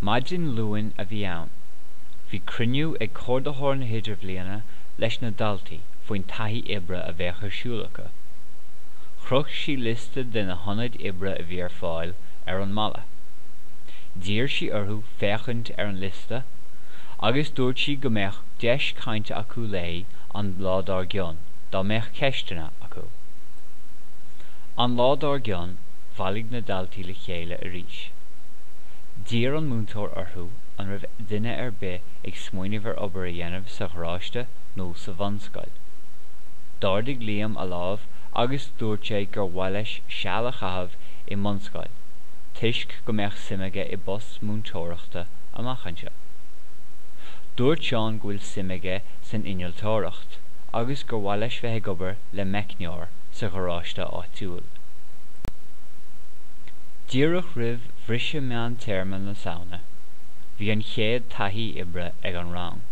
Maidin Luain a bhí ann. Bhí cruinniú ag Comhordaitheoir na hIdirbhliana leis na daltaí faoin taithí oibre a bheadh ar siúl acu. Chroch sí liosta de na hionaid oibre a bhí ar fáil ar an mballa. D'iarr sí orthu féachaint ar an liosta agus dúirt sí go mbeadh deis cainte acu léi an lá dár gcionn dá mbeadh ceisteanna acu. An lá dár gcionn. Bhailigh na daltaí le chéile arís. D'iarr an múinteoir orthu an raibh duine ar bith ag smaoineamh ar obair a dhéanamh sa gharáiste nó sa bhunscoil. D'ardaigh Liam a lámh agus dúirt sé gur mhaith leis seal a chaitheamh i mbunscoil toisc go mbeadh suim aige i bpost múinteoireachta amach anseo. Dúirt Seán go bhfuil suim aige san innealtóireacht agus gur mhaith leis bheith ag obair le meicneoir sa gharáiste áitiúil. Díreach roimh bhriseadh meán-téarma na Samhna, bhí an chéad taithí oibre ag an rang.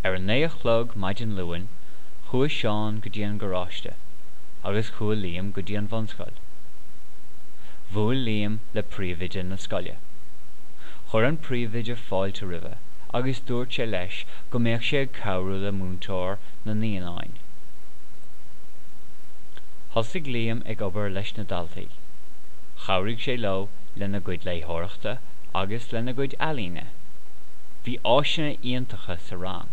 Ar a naoi a chlog maidin Luain, chuaigh Seán go dtí an garáiste agus chuaigh Liam go dtí an bhunscoil. Bhuail Liam le príomhoide na scoile. Chuir an príomhoide fáilte roimhe agus dúirt sé leis go mbeadh sé ag cabhrú le múinteoir na naíonáin. Thosaigh Liam ag obair leis na daltaí. Chabhraigh sé leo lena gcuid léitheoireachta agus lena gcuid ealaíne. Bhí áiseanna iontacha sa rang.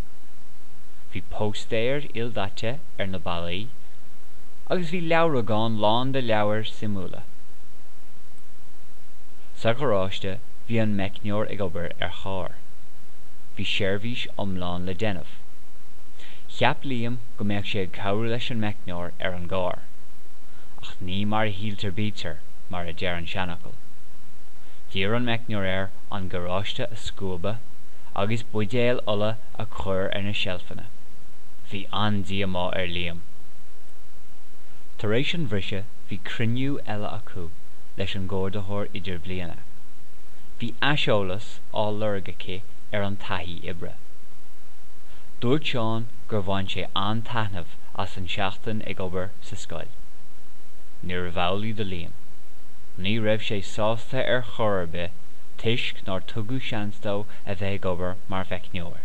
Bhí póstaeir ildaite ar na ballaí agus bhí leabhragán lán de leabhair suimiúla. Sa gharáiste bhí an meicneoir ag obair ar charr. Bhí seirbhís iomlán le déanamh. Cheap Liam go mbeadh sé ag cabhrú leis an meicneoir ar an gcarr. Ach ní mar a shíltear bítear, mar a deir an seanfhocal. D'iarr an meicneoir air an garáiste a scuabadh agus buidéil ola a chur ar na seilfeanna. Bhí an-díomá ar Liam. Tar éis an bhriseadh bhí cruinniú eile acu leis an gComhordaitheoir Idirbhliana. Bhí aiseolas á lorg aici ar an taithí oibre. Dúirt Seán gur bhain sé an-taitneamh as an tseachtain ag obair sa scoil. Níorbh amhlaidh do Liam. Ní raibh sé sásta ar chor ar bith toisc nár tugadh seans dó a bheith ag obair mar mheicneoir.